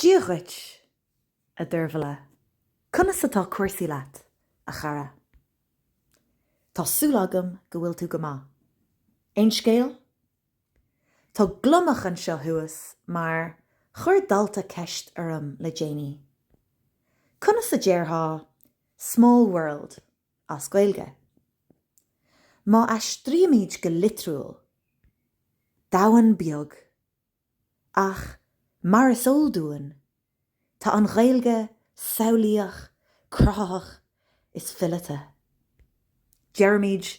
Dia dhuit, a Dearbhla. Conas atá cúrsaí leat, a chara? Tá súil agam go bhfuil tú go maith. Aon scéal? Tá gliomach anseo thuas mar chuir dalta ceist orm le déanaí. Conas a déarfá small world as Gaeilge? Má aistrímid go litriúil, domhan beag Ach, mar is eol dúinn, tá an Ghaeilge samhlaíoch, cruthaitheach is fileata. Deirimid,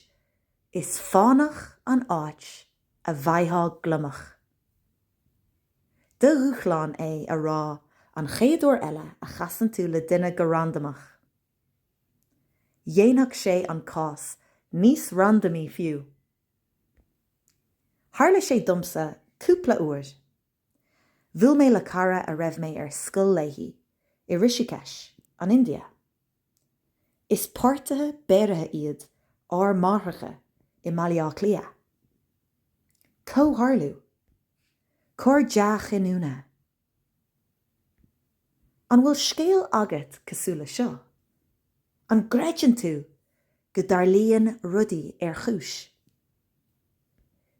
Is fánach an áit a bhfaightheá gliomach. Do dhúshlán é a rá an chéad uair eile a chasann tú le duine go randamach. Dhéanfadh sé an cás níos randamaí fiú. Tharla sé domsa cúpla uair. Bhuail mé le cara a raibh mé ar scoil léi i Rishikesh, an India. Is páirtithe beiriste iad ár máithreacha i mBaile Átha Cliath. Comhtharlú. Cor dea-chinniúna. An bhfuil scéal agat cosúil le seo? An gcreideann tú go dtarlaíonn rudaí ar chúis?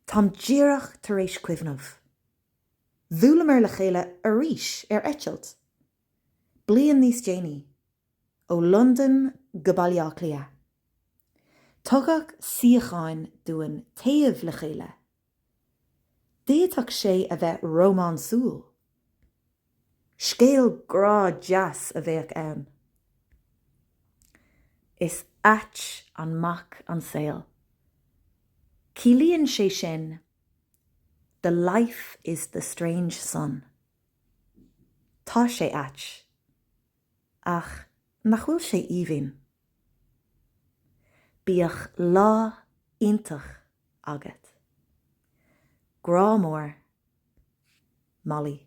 Táim díreach tar éis cuimhneamh. Bhuaileamar le chéile arís ar eitilt, bliain níos déanaí, ó Londain go Baile Átha Cliath. Tugadh suíocháin dúinn taobh le chéile D'fhéadfadh sé a bheith rómánsúil. Scéal grá deas a bheadh ann. Is ait an mac an saol. Ciallaíonn sé sin The life is the strange son. Tá sé ait. Ach nach bhfuil sé aoibhinn? Bíodh lá iontach agat. Grá mór. Molly.